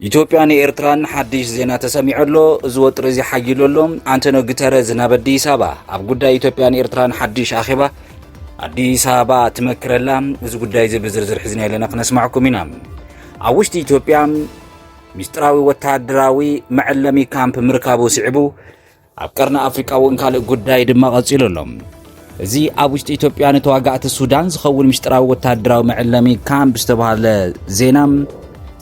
ኢትዮጵያ ንኤርትራን ሓድሽ ዜና ተሰሚዑ ኣሎ እዚ ወጥሪ እዚ ሓይሉ ኣሎ ኣንቶኒ ጉተረዝ ናብ ኣዲስ ኣበባ ኣብ ጉዳይ ኢትዮጵያን ኤርትራን ሓድሽ ኣኼባ ኣዲስ ኣበባ ትመክረላ እዚ ጉዳይ እዚ ብዝርዝር ሒዝና ኣለና ክነስማዕኩም ኢና ኣብ ውሽጢ ኢትዮጵያ ሚስጥራዊ ወተሃደራዊ መዐለሚ ካምፕ ምርካቡ ስዒቡ ኣብ ቀርኒ ኣፍሪቃ እውን ካልእ ጉዳይ ድማ ቀጺሉ ኣሎ። እዚ ኣብ ውሽጢ ኢትዮጵያ ንተዋጋእቲ ሱዳን ዝኸውን ምስጢራዊ ወተሃደራዊ መዕለሚ ካምፕ ዝተባሃለ ዜና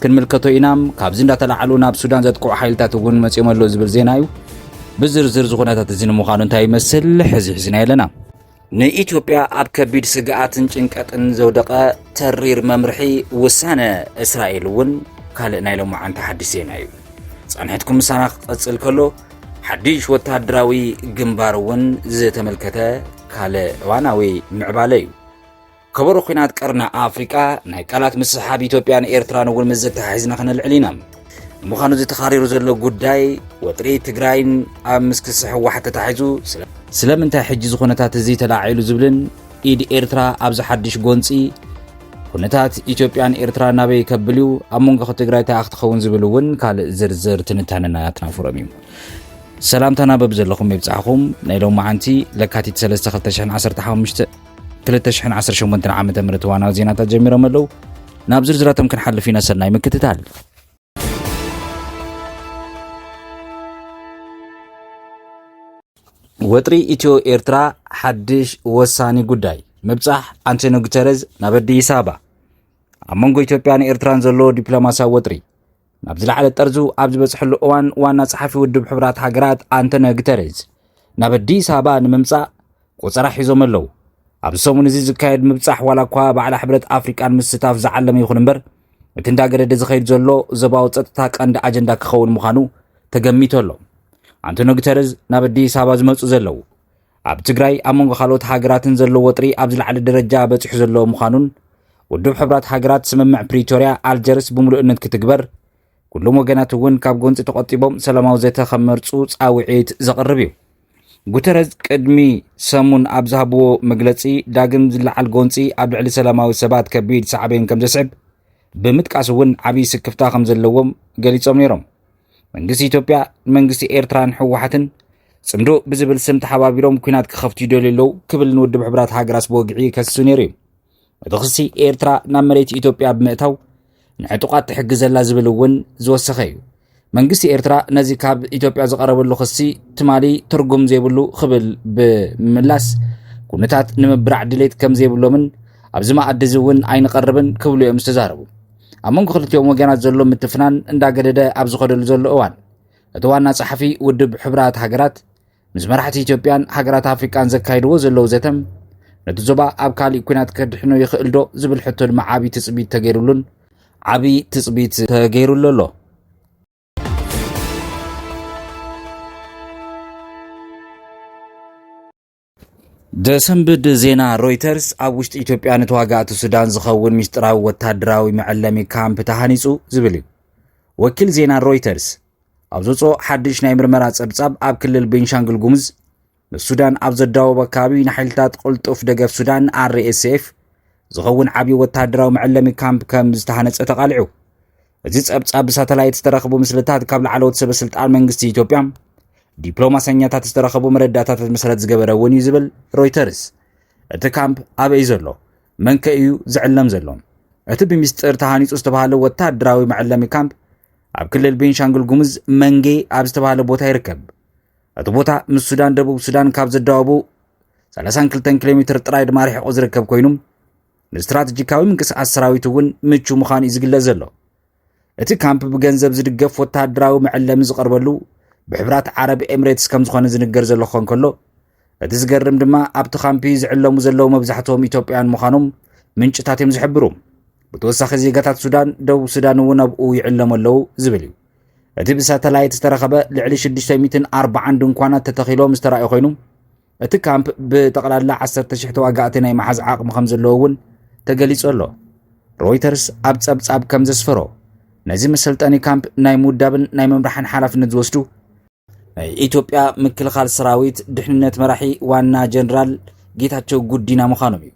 ክንምልከቶ ኢና ካብዚ እንዳተላዓሉ ናብ ሱዳን ዘጥቅዑ ሓይልታት እውን መፅኦም ኣሎ ዝብል ዜና እዩ ብዝርዝር ዝኩነታት እዚ ንምዃኑ እንታይ ይመስል ሕዚ ሕዝና ኣለና ንኢትዮጵያ ኣብ ከቢድ ስግኣትን ጭንቀትን ዘውደቐ ተሪር መምርሒ ውሳነ እስራኤል እውን ካልእ ናይ ሎማዓንቲ ሓድሽ ዜና እዩ። ጻንሕትኩም ምሳና ክቐጽል ከሎ ሓድሽ ወተሃደራዊ ግንባር እውን ዝተመልከተ ካልእ እዋናዊ ምዕባለ እዩ። ከበሮ ኲናት ቀርኒ ኣፍሪቃ ናይ ቃላት ምስሓብ ኢትዮጵያን ኤርትራን እውን ምስ ዘተሓሒዝና ክነልዕል ኢና። ንምዃኑ እዚ ተኻሪሩ ዘሎ ጉዳይ ወጥሪ ትግራይን ኣብ ምስክስሕ ህወሓት ተታሒዙ ስለምንታይ ሕጂ እዚ ኩነታት እዚ ተላዒሉ ዝብልን ኢድ ኤርትራ ኣብዚ ሓድሽ ጎንፂ ኩነታት ኢትዮጵያን ኤርትራ ናበይ ከብል እዩ ኣብ መንጎ ትግራይ ተኣ ክትኸውን ዝብል እውን ካልእ ዝርዝር ትንታነና ኣትናፍሮም እዩ ሰላምታና በብዘለኹም ይብፃሕኹም ናይ ሎሚ መዓንቲ ለካቲት 3 2015 2018 ዓ ም ዋናዊ ዜናታት ጀሚሮም ኣለዉ ናብ ዝርዝራቶም ክንሓልፍ ኢና ሰናይ ምክትታል ወጥሪ ኢትዮ ኤርትራ ሓድሽ ወሳኒ ጉዳይ ምብጻሕ ኣንቶኒ ጉተረዝ ናብ ኣዲስ ኣበባ ኣብ መንጎ ኢትዮጵያን ኤርትራን ዘሎ ዲፕሎማስያዊ ወጥሪ ናብ ዝለዓለ ጠርዙ ኣብ ዝበፅሐሉ እዋን ዋና ጸሓፊ ውድብ ሕብራት ሃገራት ኣንቶኒዮ ግተሬዝ ናብ ኣዲስ ኣበባ ንምምጻእ ቆፀራ ሒዞም ኣለዉ። ኣብዚ ሰሙን እዚ ዝካየድ ምብጻሕ ዋላ እኳ ባዕላ ሕብረት ኣፍሪቃን ምስታፍ ዝዓለመ ይኹን እምበር እቲ እንዳገደደ ዝኸይድ ዘሎ ዞባዊ ጸጥታ ቀንዲ ኣጀንዳ ክኸውን ምዃኑ ተገሚቱ ኣሎ። ኣንቶኒዮ ግተሬዝ ናብ ኣዲስ ኣበባ ዝመፁ ዘለዉ ኣብ ትግራይ ኣብ መንጎ ካልኦት ሃገራትን ዘሎ ወጥሪ ኣብ ዝለዓለ ደረጃ በፂሑ ዘሎ ምዃኑን ውድብ ሕብራት ሃገራት ስምምዕ ፕሪቶርያ ኣልጀርስ ብምሉእነት ክትግበር ኩሎም ወገናት እውን ካብ ጎንፂ ተቆጢቦም ሰላማዊ ዘተ ከመርፁ ፃውዒት ዘቕርብ እዩ። ጉተረዝ ቅድሚ ሰሙን ኣብ ዝሃብዎ መግለፂ ዳግም ዝለዓል ጎንፂ ኣብ ልዕሊ ሰላማዊ ሰባት ከቢድ ሳዕቤን ከም ዘስዕብ ብምጥቃስ እውን ዓብዪ ስክፍታ ከም ዘለዎም ገሊፆም ነይሮም። መንግስቲ ኢትዮጵያ መንግስቲ ኤርትራን ህወሓትን ጽምዶ ብዝብል ስም ተሓባቢሮም ኩናት ክኸፍቱ ይደልዩ ኣለዉ ክብል ንውድብ ሕብራት ሃገራት ብወግዒ ከሲሱ ነይሩ እዩ እቲ ክሲ ኤርትራ ናብ መሬት ኢትዮጵያ ብምእታው ንዕጡቓት ትሕግዘላ ዝብል እውን ዝወሰኸ እዩ መንግስቲ ኤርትራ ነዚ ካብ ኢትዮጵያ ዝቐረበሉ ክሲ ትማሊ ትርጉም ዘይብሉ ክብል ብምምላስ ኩነታት ንምብራዕ ድሌት ከም ዘይብሎምን ኣብዚ መኣዲ እዚ እውን ኣይንቐርብን ክብሉ እዮም ዝተዛረቡ ኣብ መንጎ ክልቲኦም ወገናት ዘሎ ምትፍናን እንዳገደደ ኣብ ዝኸደሉ ዘሎ እዋን እቲ ዋና ጸሓፊ ውድብ ሕብራት ሃገራት ምስ መራሕቲ ኢትዮጵያን ሃገራት ኣፍሪቃን ዘካይድዎ ዘለዉ ዘተም ነቲ ዞባ ኣብ ካሊእ ኩናት ከድሕኖ ይኽእል ዶ ዝብል ሕቶ ድማ ዓብዪ ትፅቢት ተገይሩሉን ዓብዪ ትፅቢት ተገይሩሉ ኣሎ ዘሰንብድ ዜና ሮይተርስ ኣብ ውሽጢ ኢትዮጵያ ንተዋጋእቲ ሱዳን ዝኸውን ምስጢራዊ ወታደራዊ መዐለሚ ካምፕ ተሃኒጹ ዝብል እዩ ወኪል ዜና ሮይተርስ ኣብ ዘውፅኦ ሓድሽ ናይ ምርመራ ጸብጻብ ኣብ ክልል ቤንሻንግል ጉሙዝ ምስ ሱዳን ኣብ ዘዳወቦ ኣካባቢ ንሓይልታት ቅልጡፍ ደገፍ ሱዳን ኣርኤስኤፍ ዝኸውን ዓብዪ ወታደራዊ መዐለሚ ካምፕ ከም ዝተሃነፀ ተቓሊዑ እቲ ጸብጻብ ብሳተላይት ዝተረኸቡ ምስልታት ካብ ላዕለዎት ሰበ ስልጣን መንግስቲ ኢትዮጵያ ዲፕሎማሰኛታት ዝተረኸቡ መረዳእታታት መሰረት ዝገበረ እውን እዩ ዝብል ሮይተርስ እቲ ካምፕ ኣበይ ዘሎ መን ከ እዩ ዝዕለም ዘሎ እቲ ብሚስጥር ተሃኒፁ ዝተባሃለ ወታደራዊ መዕለሚ ካምፕ ኣብ ክልል ቤንሻንጉል ጉሙዝ መንጌ ኣብ ዝተባሃለ ቦታ ይርከብ እቲ ቦታ ምስ ሱዳን ደቡብ ሱዳን ካብ ዘዳወቡ 32 ኪሎ ሜትር ጥራይ ድማ ርሒቑ ዝርከብ ኮይኑ ንስትራተጂካዊ ምንቅስቓስ ሰራዊት እውን ምቹ ምዃኑ እዩ ዝግለጽ ዘሎ እቲ ካምፕ ብገንዘብ ዝድገፍ ወተሃደራዊ መዕለሚ ዝቐርበሉ ብሕብራት ዓረብ ኤምሬትስ ከም ዝኾነ ዝንገር ዘሎ ክኾን ከሎ እቲ ዝገርም ድማ ኣብቲ ካምፒ ዝዕለሙ ዘለዉ መብዛሕትኦም ኢትዮጵያውያን ምዃኖም ምንጭታት እዮም ዝሕብሩ ብተወሳኺ ዜጋታት ሱዳን ደቡብ ሱዳን እውን ኣብኡ ይዕለሙ ኣለዉ ዝብል እዩ እቲ ብሳተላይት ዝተረኸበ ልዕሊ 640 ድንኳናት ተተኺሎም ዝተረእየ ኮይኑ እቲ ካምፕ ብጠቕላላ ዓሰርተ ሽሕ ተዋጋእቲ ናይ መሓዝ ዓቕሚ ከም ዘለዎ እውን ተገሊጹ ኣሎ። ሮይተርስ ኣብ ጸብጻብ ከም ዘስፈሮ ነዚ መሰልጠኒ ካምፕ ናይ ምውዳብን ናይ ምምራሕን ሓላፍነት ዝወስዱ ናይ ኢትዮጵያ ምክልኻል ሰራዊት ድሕንነት መራሒ ዋና ጀነራል ጌታቸው ጉዲና ምዃኖም እዩ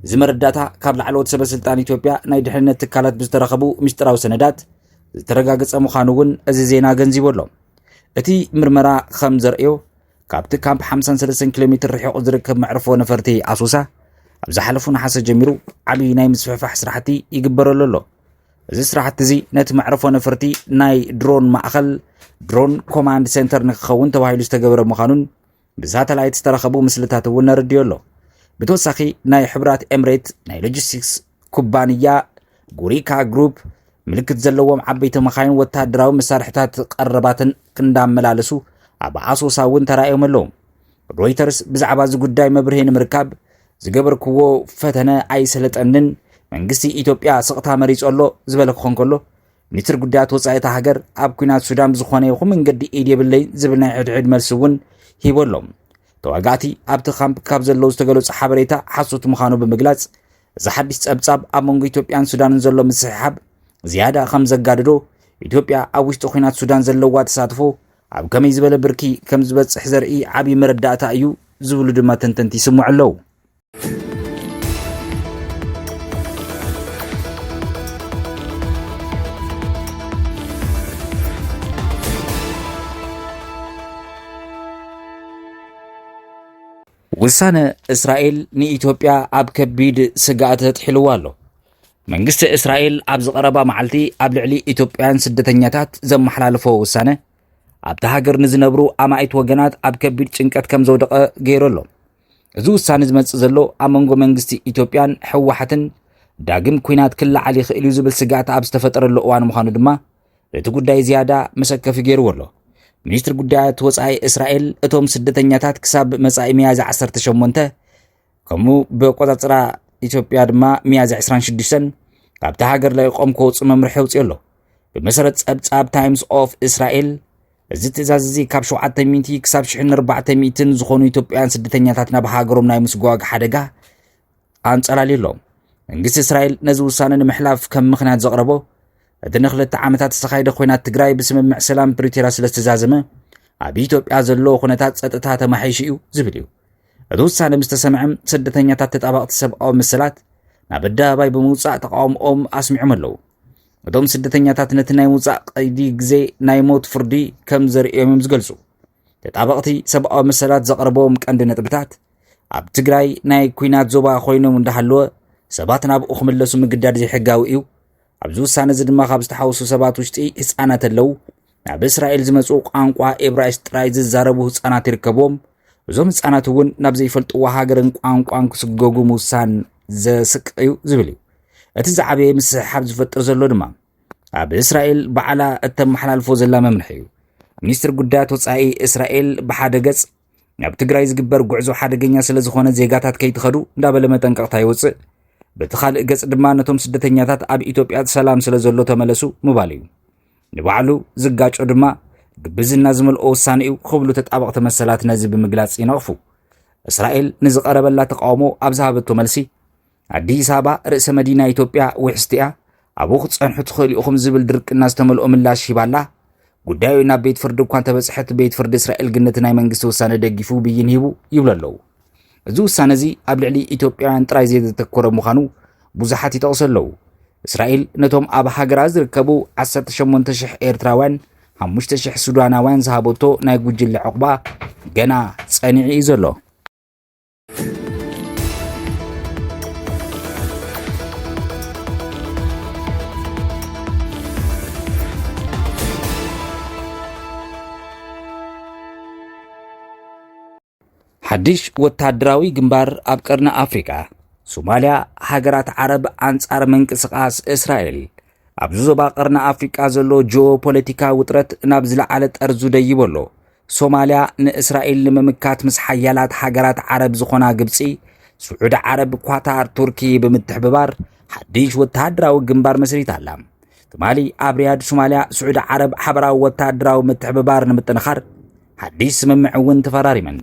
እዚ መረዳእታ ካብ ላዕለዎት ሰበ ስልጣን ኢትዮጵያ ናይ ድሕንነት ትካላት ብዝተረኸቡ ምስጢራዊ ሰነዳት ዝተረጋገፀ ምዃኑ እውን እዚ ዜና ገንዚቡ ኣሎ እቲ ምርመራ ከም ዘርእዮ ካብቲ ካምፕ ሓምሳን ሰለስተን ኪሎ ሜትር ርሒቑ ዝርከብ መዕርፎ ነፈርቲ ኣሶሳ ኣብ ዝሓለፉ ነሓሰ ጀሚሩ ዓብዪ ናይ ምስፍሕፋሕ ስራሕቲ ይግበረሉ ኣሎ እዚ ስራሕቲ እዚ ነቲ መዕርፎ ነፈርቲ ናይ ድሮን ማእኸል ድሮን ኮማንድ ሴንተር ንክኸውን ተባሂሉ ዝተገበረ ምዃኑን ብሳተላይት ዝተረኸቡ ምስልታት እውን ነረድዮ ኣሎ ብተወሳኺ ናይ ሕብራት ኤምሬት ናይ ሎጂስቲክስ ኩባንያ ጉሪካ ግሩፕ ምልክት ዘለዎም ዓበይቲ መኻይን ወታደራዊ መሳርሕታት ቀረባትን ክንዳመላለሱ ኣብ ኣሶሳ እውን ተራእዮም ኣለዉ ሮይተርስ ብዛዕባ እዚ ጉዳይ መብርሂ ንምርካብ ዝገበርክዎ ፈተነ ኣይሰለጠንን መንግስቲ ኢትዮጵያ ስቕታ መሪጹ ኣሎ ዝበለ ክኾን ከሎ ሚኒስትር ጉዳያት ወፃኢ እታ ሃገር ኣብ ኩናት ሱዳን ብዝኾነ ይኹን መንገዲ ኢድ የብለይ ዝብል ናይ ሕድሕድ መልሲ እውን ሂቦ ኣሎ ተዋጋእቲ ኣብቲ ካምፕ ካብ ዘለዉ ዝተገለጹ ሓበሬታ ሓሶት ምዃኑ ብምግላጽ እዚ ሓድሽ ጸብጻብ ኣብ መንጎ ኢትዮጵያን ሱዳንን ዘሎ ምስሕሓብ ዝያዳ ከም ዘጋድዶ ኢትዮጵያ ኣብ ውሽጢ ኩናት ሱዳን ዘለዋ ተሳትፎ ኣብ ከመይ ዝበለ ብርኪ ከም ዝበፅሕ ዘርኢ ዓብዪ መረዳእታ እዩ ዝብሉ ድማ ተንተንቲ ይስምዑ ኣለዉ ውሳነ እስራኤል ንኢትዮጵያ ኣብ ከቢድ ስግኣት ኣጥሒልዋ ኣሎ። መንግስቲ እስራኤል ኣብዚ ቀረባ መዓልቲ ኣብ ልዕሊ ኢትዮጵያውያን ስደተኛታት ዘመሓላለፎ ውሳነ ኣብቲ ሃገር ንዝነብሩ ኣማኢት ወገናት ኣብ ከቢድ ጭንቀት ከም ዘውደቐ ገይሩ ኣሎ። እዚ ውሳነ ዝመጽእ ዘሎ ኣብ መንጎ መንግስቲ ኢትዮጵያን ህወሓትን ዳግም ኲናት ክለዓል ይኽእል እዩ ዝብል ስግኣት ኣብ ዝተፈጠረሉ እዋን ምዃኑ ድማ እቲ ጉዳይ ዝያዳ መሰከፊ ገይርዎ ኣሎ። ሚኒስትሪ ጉዳያት ወፃኢ እስራኤል እቶም ስደተኛታት ክሳብ መጻኢ ሚያዝያ 18 ከምኡ ብቆፃፅራ ኢትዮጵያ ድማ ሚያዝያ 26 ካብታ ሃገር ለቂቆም ክወፁ መምርሒ ኣውፅኦ ኣሎ። ብመሰረት ፀብፃብ ታይምስ ኦፍ እስራኤል እዚ ትእዛዝ እዚ ካብ 700 ክሳብ 1400 ዝኾኑ ኢትዮጵያውያን ስደተኛታት ናብ ሃገሮም ናይ ምስጓግ ሓደጋ ኣንጸላልዩ ኣሎ። መንግስቲ እስራኤል ነዚ ውሳነ ንምሕላፍ ከም ምኽንያት ዘቕረቦ እቲ ንክልተ ዓመታት ዝተኻየደ ኩናት ትግራይ ብስምምዕ ሰላም ፕሪቶርያ ስለ ዝተዛዘመ ኣብ ኢትዮጵያ ዘለዎ ኩነታት ጸጥታ ተማሒሹ እዩ ዝብል እዩ። እቲ ውሳነ ምስ ተሰምዐ ስደተኛታት ተጣባቕቲ ሰብኣዊ መሰላት ናብ ኣደባባይ ብምውጻእ ተቃውሞኦም ኣስሚዖም ኣለዉ። እቶም ስደተኛታት ነቲ ናይ ምውጻእ ቀይዲ ግዜ ናይ ሞት ፍርዲ ከም ዘርእዮም እዮም ዝገልጹ። ተጣበቕቲ ሰብኣዊ መሰላት ዘቕረቦም ቀንዲ ነጥብታት ኣብ ትግራይ ናይ ኩናት ዞባ ኮይኖም እንዳሃለወ ሰባት ናብኡ ክምለሱ ምግዳድ ዘይሕጋዊ እዩ። ኣብዚ ውሳነ እዚ ድማ ካብ ዝተሓውሱ ሰባት ውሽጢ ህፃናት ኣለው። ናብ እስራኤል ዝመፁ ቋንቋ ኤብራይስ ጥራይ ዝዛረቡ ህፃናት ይርከብዎም እዞም ህፃናት እውን ናብ ዘይፈልጥዎ ሃገርን ቋንቋን ክስገጉ ምውሳን ዘስቅቕ እዩ ዝብል እዩ እቲ ዝዓበየ ምስሕሓብ ዝፈጥር ዘሎ ድማ ኣብ እስራኤል ባዕላ እተመሓላልፎ ዘላ መምርሒ እዩ። ሚኒስትር ጉዳያት ወፃኢ እስራኤል ብሓደ ገፅ ናብ ትግራይ ዝግበር ጉዕዞ ሓደገኛ ስለ ዝኾነ ዜጋታት ከይትኸዱ እንዳበለ መጠንቀቕታ ይወፅእ፣ በቲ ካልእ ገፅ ድማ ነቶም ስደተኛታት ኣብ ኢትዮጵያ ሰላም ስለ ዘሎ ተመለሱ ምባል እዩ። ንባዕሉ ዝጋጮ ድማ ግብዝና ዝመልኦ ውሳነ እዩ ክብሉ ተጣበቕቲ መሰላት ነዚ ብምግላፅ ይነቕፉ። እስራኤል ንዝቐረበላ ተቃውሞ ኣብ ዝሃበቶ መልሲ ኣዲስ ኣበባ ርእሰ መዲና ኢትዮጵያ ውሕስቲያ ኣብኡ ክትጸንሑ ትኽእሉ ኢኹም ዝብል ድርቅና ዝተመልኦ ምላሽ ሂባላ ጉዳዩ ናብ ቤት ፍርዲ እኳ እንተበጽሐት ቤት ፍርዲ እስራኤል ግን ነቲ ናይ መንግስቲ ውሳነ ደጊፉ ብይን ሂቡ ይብሉ ኣለዉ እዚ ውሳነ እዚ ኣብ ልዕሊ ኢትዮጵያውያን ጥራይ ዘየተተኮረ ምዃኑ ብዙሓት ይጠቕሱ ኣለዉ እስራኤል ነቶም ኣብ ሃገራ ዝርከቡ 18,000 ኤርትራውያን 5,000 ሱዳናውያን ዝሃበቶ ናይ ጉጅለ ዕቑባ ገና ጸኒዑ እዩ ዘሎ ሓድሽ ወታደራዊ ግንባር ኣብ ቀርኒ ኣፍሪቃ ሶማልያ ሃገራት ዓረብ ኣንጻር ምንቅስቓስ እስራኤል ኣብዚ ዞባ ቀርኒ ኣፍሪቃ ዘሎ ጂኦ ፖለቲካ ውጥረት ናብ ዝለዓለ ጠርዙ ደይቦ ኣሎ ሶማልያ ንእስራኤል ንምምካት ምስ ሓያላት ሃገራት ዓረብ ዝኾና ግብፂ፣ ስዑዲ ዓረብ፣ ኳታር፣ ቱርኪ ብምትሕብባር ሓድሽ ወተሃደራዊ ግንባር መስሪታ ኣላ። ትማሊ ኣብ ሪያድ ሶማልያ ስዑዲ ዓረብ ሓበራዊ ወተሃደራዊ ምትሕብባር ንምጥንኻር ሓድሽ ስምምዕ እውን ተፈራሪመን።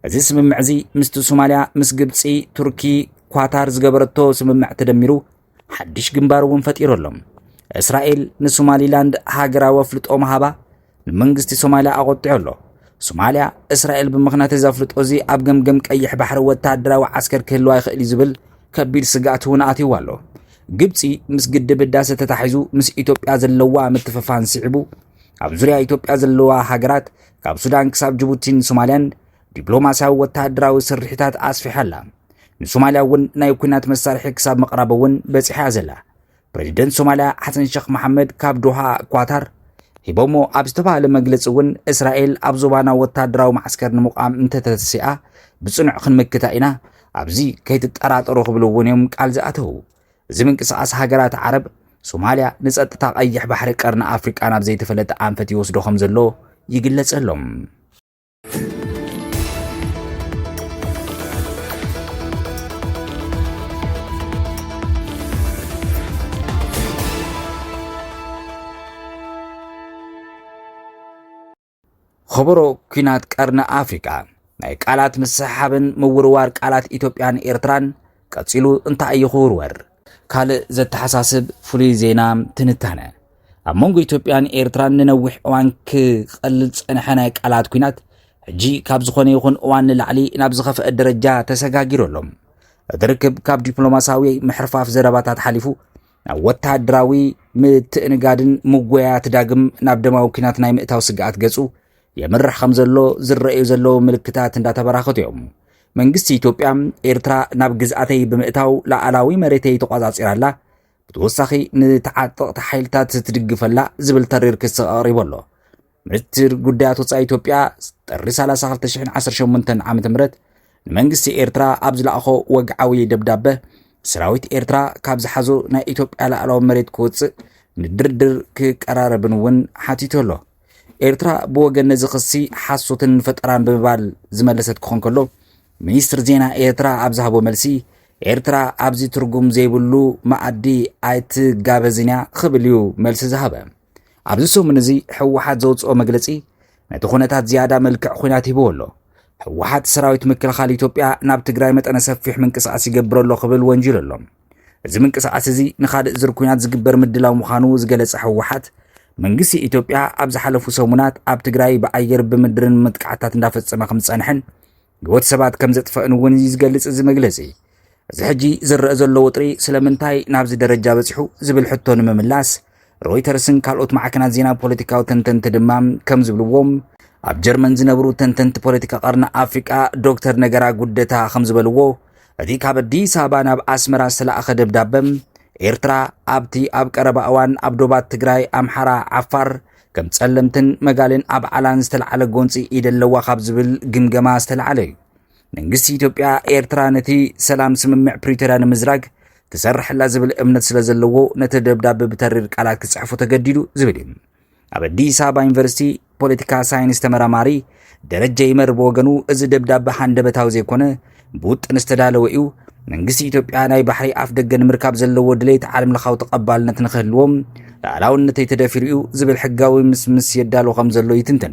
እዚ ስምምዕ እዚ ምስቲ ሶማልያ ምስ ግብፂ፣ ቱርኪ፣ ኳታር ዝገበረቶ ስምምዕ ተደሚሩ ሓድሽ ግንባር እውን ፈጢሩ ኣሎ። እስራኤል ንሶማሊላንድ ሃገራዊ ኣፍልጦ ምሃባ ንመንግስቲ ሶማልያ ኣቖጢዑ ኣሎ። ሶማልያ እስራኤል ብምኽንያት እዚ ኣፍልጦ እዚ ኣብ ገምገም ቀይሕ ባሕሪ ወተሃደራዊ ዓስከር ክህልዋ ይኽእል እዩ ዝብል ከቢድ ስግኣት እውን ኣትይዎ ኣሎ። ግብፂ ምስ ግድብ ህዳሰ ተታሒዙ ምስ ኢትዮጵያ ዘለዋ ምትፍፋን ስዒቡ ኣብ ዙርያ ኢትዮጵያ ዘለዋ ሃገራት ካብ ሱዳን ክሳብ ጅቡቲን ሶማልያን ዲፕሎማስያዊ ወተሃደራዊ ስርሒታት ኣስፊሓ ኣላ። ንሶማልያ እውን ናይ ኩናት መሳርሒ ክሳብ ምቕራብ እውን በጺሓ እያ ዘላ። ፕረዚደንት ሶማልያ ሓሰን ሸኽ መሓመድ ካብ ዶሃ ኳታር ሂቦሞ ኣብ ዝተባህለ መግለፂ እውን እስራኤል ኣብ ዞባና ወታደራዊ ማዓስከር ንምቋም እንተተተሲኣ ብፅኑዕ ክንምክታ ኢና ኣብዚ ከይትጠራጠሩ ክብሉ እውን እዮም ቃል ዝኣተው እዚ ምንቅስቃስ ሃገራት ዓረብ ሶማልያ ንፀጥታ ቀይሕ ባሕሪ ቀርኒ ኣፍሪቃ ናብ ዘይተፈለጠ ኣንፈት ይወስዶ ከም ዘሎ ይግለጸሎም ኸበሮ ኲናት ቀርኒ ኣፍሪቃ ናይ ቃላት ምስሓብን ምውርዋር ቃላት ኢትዮጵያን ኤርትራን ቀጺሉ እንታይ እዩ ክውርወር? ካልእ ዘተሓሳስብ ፍሉይ ዜና ትንታነ ኣብ መንጎ ኢትዮጵያን ኤርትራን ንነዊሕ እዋን ክቐልል ዝጸንሐ ናይ ቃላት ኩናት ሕጂ ካብ ዝኾነ ይኹን እዋን ንላዕሊ ናብ ዝኸፍአ ደረጃ ተሰጋጊሩ ኣሎ። እቲ ርክብ ካብ ዲፕሎማስያዊ ምሕርፋፍ ዘረባታት ሓሊፉ ናብ ወተሃደራዊ ምትእንጋድን ምጎያያት ዳግም ናብ ደማዊ ኩናት ናይ ምእታው ስግኣት ገጹ የምርሕ ከም ዘሎ ዝረኣዩ ዘለዉ ምልክታት እንዳተበራኸቱ እዮም መንግስቲ ኢትዮጵያ ኤርትራ ናብ ግዝኣተይ ብምእታው ላዕላዊ መሬተይ ተቋጻጺራ ኣላ፣ ብተወሳኺ ንተዓጠቕቲ ሓይልታት ትድግፈላ ዝብል ተሪር ክሲ ኣቕሪቡ ኣሎ። ሚኒስትር ጉዳያት ወፃኢ ኢትዮጵያ ጥሪ 30 2018 ዓ.ም ንመንግስቲ ኤርትራ ኣብ ዝለኣኾ ወግዓዊ ደብዳበ ሰራዊት ኤርትራ ካብ ዝሓዞ ናይ ኢትዮጵያ ላዕላዊ መሬት ክወፅእ ንድርድር ክቀራረብን እውን ሓቲቱ ኣሎ። ኤርትራ ብወገን ነዚ ክሲ ሓሶትን ፈጠራን ብምባል ዝመለሰት ክኾን ከሎ ሚኒስትር ዜና ኤርትራ ኣብ ዝሃቦ መልሲ ኤርትራ ኣብዚ ትርጉም ዘይብሉ መኣዲ ኣይትጋበዝን እያ ክብል እዩ መልሲ ዝሃበ ኣብዚ ሰሙን እዚ ሕወሓት ዘውፅኦ መግለፂ ነቲ ኩነታት ዝያዳ መልክዕ ኩናት ሂብዎ ኣሎ ሕወሓት ሰራዊት ምክልኻል ኢትዮጵያ ናብ ትግራይ መጠነ ሰፊሕ ምንቅስቓስ ይገብር ኣሎ ክብል ወንጂሉ ኣሎ እዚ ምንቅስቓስ እዚ ንካልእ ዝር ኩናት ዝግበር ምድላው ምዃኑ ዝገለጸ ህወሓት መንግስቲ ኢትዮጵያ ኣብ ዝሓለፉ ሰሙናት ኣብ ትግራይ ብኣየር ብምድርን መጥቃዕታት እንዳፈጸመ ከም ዝጸንሐን ህይወት ሰባት ከም ዘጥፈእን እውን እዩ ዝገልጽ እዚ መግለጺ እዚ ሕጂ ዝረአ ዘሎ ወጥሪ ስለምንታይ ናብዚ ደረጃ በፂሑ ዝብል ሕቶ ንምምላስ ሮይተርስን ካልኦት ማዕከናት ዜና ፖለቲካዊ ተንተንቲ ድማ ከም ዝብልዎ ኣብ ጀርመን ዝነብሩ ተንተንቲ ፖለቲካ ቀርኒ ኣፍሪቃ ዶክተር ነገራ ጉደታ ከም ዝበልዎ እቲ ካብ ኣዲስ ኣበባ ናብ ኣስመራ ዝተላእኸ ደብዳበ ኤርትራ ኣብቲ ኣብ ቀረባ እዋን ኣብ ዶባት ትግራይ፣ ኣምሓራ፣ ዓፋር ከም ጸለምትን መጋልን ኣብ ዓላን ዝተለዓለ ጎንፂ ኢደ ኣለዋ ካብ ዝብል ግምገማ ዝተለዓለ እዩ። መንግስቲ ኢትዮጵያ ኤርትራ ነቲ ሰላም ስምምዕ ፕሪቶርያ ንምዝራግ ክሰርሐላ ዝብል እምነት ስለ ዘለዎ ነቲ ደብዳቤ ብተሪር ቃላት ክጽሕፎ ተገዲዱ ዝብል እዩ ኣብ ኣዲስ ኣበባ ዩኒቨርሲቲ ፖለቲካ ሳይንስ ተመራማሪ ደረጀ ይመር ብወገኑ እዚ ደብዳቤ ሃንደበታዊ ዘይኮነ ብውጥን ዝተዳለወ እዩ መንግስቲ ኢትዮጵያ ናይ ባሕሪ ኣፍ ደገ ንምርካብ ዘለዎ ድሌት ዓለም ለኻዊ ተቐባልነት ንክህልዎም ላዕላውነተይ ተደፊሩ እዩ ዝብል ሕጋዊ ምስምስ የዳሎ ከም ዘሎ ይትንትን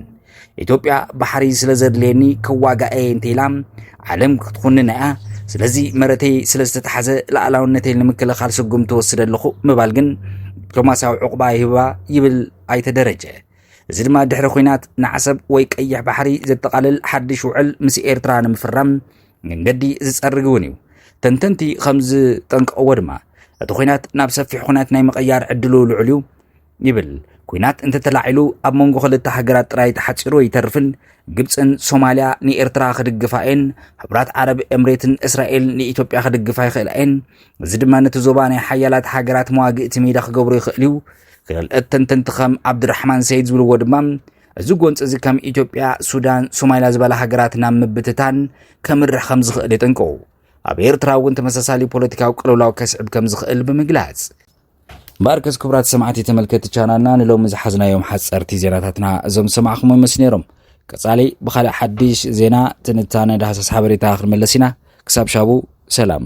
ኢትዮጵያ ባሕሪ ስለ ዘድልየኒ ከዋጋኤ እንተኢላ ዓለም ክትኹንን እያ ስለዚ መረተይ ስለ ዝተታሓዘ ላዕላውነተይ ንምክልኻል ስጉም ትወስደ ኣለኹ ምባል ግን ዲፕሎማስያዊ ዕቑባ ይህባ ይብል ኣይተ ደረጀ እዚ ድማ ድሕሪ ኩናት ንዓሰብ ወይ ቀይሕ ባሕሪ ዘጠቓልል ሓድሽ ውዕል ምስ ኤርትራ ንምፍራም መንገዲ ዝፀርግ እውን እዩ ተንተንቲ ከም ዝጠንቀቕዎ ድማ እቲ ኩናት ናብ ሰፊሕ ኩናት ናይ ምቕያር ዕድሉ ልዑል እዩ ይብል። ኩናት እንተተላዒሉ ኣብ መንጎ ክልተ ሃገራት ጥራይ ተሓጺሩ ኣይተርፍን። ግብጽን ሶማልያ ንኤርትራ ክድግፋ እየን፣ ሕቡራት ዓረብ ኤምሬትን እስራኤል ንኢትዮጵያ ክድግፋ ይኽእላ እየን። እዚ ድማ ነቲ ዞባ ናይ ሓያላት ሃገራት መዋግእቲ ሜዳ ክገብሮ ይኽእል እዩ። ክልእት ተንተንቲ ከም ዓብዱራሕማን ሰይድ ዝብልዎ ድማ እዚ ጎንፂ እዚ ከም ኢትዮጵያ፣ ሱዳን፣ ሶማልያ ዝበላ ሃገራት ናብ ምብትታን ከምርሕ ከም ዝኽእል የጠንቅቑ። ኣብ ኤርትራ እውን ተመሳሳሊ ፖለቲካዊ ቅልውላው ከስዕብ ከም ዝኽእል ብምግላጽ ባርከስ ክብራት ሰማዕቲ ተመልከቲ ቻናልና ንሎሚ ዝሓዝናዮም ሓፀርቲ ዜናታትና እዞም ዝሰማዕኹም ምስ ነይሮም ቀፃሊ ብካልእ ሓድሽ ዜና ትንታነ ዳህሳስ ሓበሬታ ክንመለስ ኢና ክሳብ ሻቡ ሰላም